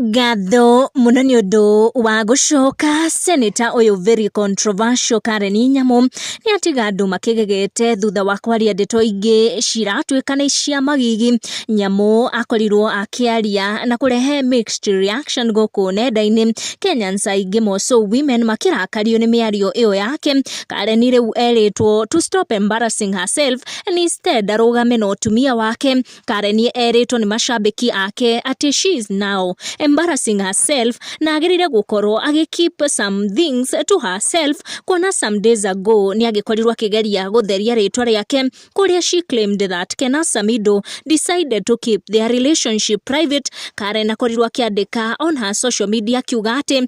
Ngatho mũno nĩ ũndũ wa gũcoka cenĩta ũyũ very controversial Karen Nyamu nĩ atiga andũ makĩgegete thutha wa kwaria ndeto ingĩ ciratuĩka nĩ cia magigi. Nyamu akorirwo akĩaria na kũrehe mixed reaction gũkũ nenda-inĩ, Kenyans aingĩ more so women makĩrakario nĩ mĩario ĩyo yake. Karen rĩu erĩtwo to stop embarrassing herself and instead arũgame na ũtumia wake. Karen erĩtwo nĩ macambĩki ake atĩ she is now embarrassing herself na agĩrĩire gũkorwo agĩ keep some things to herself kuona some days ago nĩ agĩkorirwo akĩgeria gũtheria rĩtwa rĩake kũrĩa she claimed that Ken Asamido decided to keep their relationship private Karen akorirwo akĩandĩka on her social media akiuga atĩ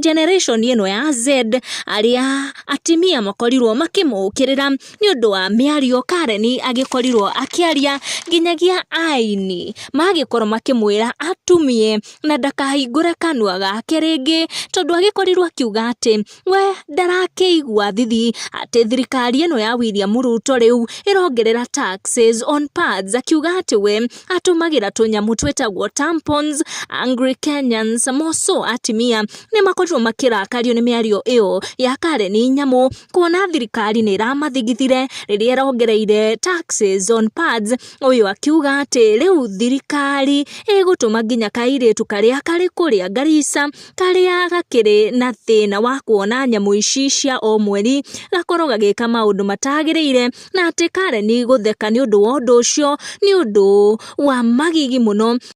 generation ĩno ya Z arĩa atimia makorirwo makĩmũkĩrĩra nĩ ũndũ wa mĩario Karen agĩkorirwo akĩaria nginyagia aini magĩkorwo makĩmwĩra atumie na ndakahingũre kanua gake rĩngĩ tondũ agĩkorirwo akiuga atĩ we ndarakĩigua thithi atĩ thirikari ĩno ya William Ruto rĩu ĩrongerera taxes on pads akiuga atĩ we atũmagĩra tũnyamũ twĩtagwo tampons, Angry Kenyans, Mosũ atimia nĩ makorirwo makĩrakario nĩ mĩario ĩyo ya Karen Nyamu kuona thirikari nĩ ĩramathigithire rĩrĩa ĩrongereire taxes on pads, ũyũ akiuga atĩ rĩu thirikari ĩgũtũma nginya kairĩtu karĩa karĩ kũrĩa Garissa karĩa gakĩrĩ na thĩna wa kuona nyamũ ici cia o mweri gakorwo gagĩka maũndũ matagĩrĩire. na atĩ Karen gũtheka nĩ ũndũ wa ũndũ ũcio nĩ ũndũ wa magigi mũno.